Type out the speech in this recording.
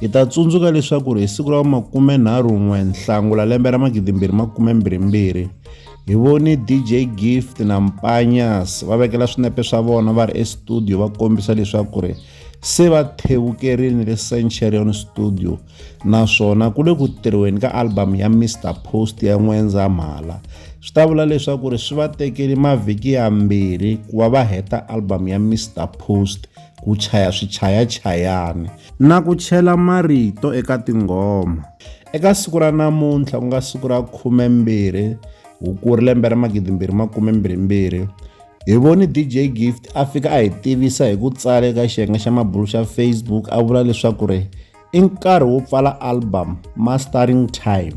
Hi ta tsundzuka leswaku ri hi siku ra makume nharhu n'we Nhlangula lembe ra magidi mbirhi makume mbirhi mbirhi hi voni DJ Gift na Mpanyas va vekela swinepe swa vona va ri estudio va kombisa leswaku ri se va thevukerini le Centurion Studio naswona ku le ku tirhiweni ka album ya Mr Post ya N'wendzamhala swi ta vula leswaku ri swi va tekeli mavhiki yambirhi ku va va heta album ya Mr Post ku chaya swichayachayani na ku chela marito eka tinghoma eka siku ra namuntlha ku nga siku ra khumembirhi hukuri lembe ra magidimbirhi makumembirhimbirhi hi voni dj gift a fika a hi tivisa hi ku tsala eka xiyenge xa mabulu xa facebook a vula leswaku ri i nkarhi wo pfala album mastering time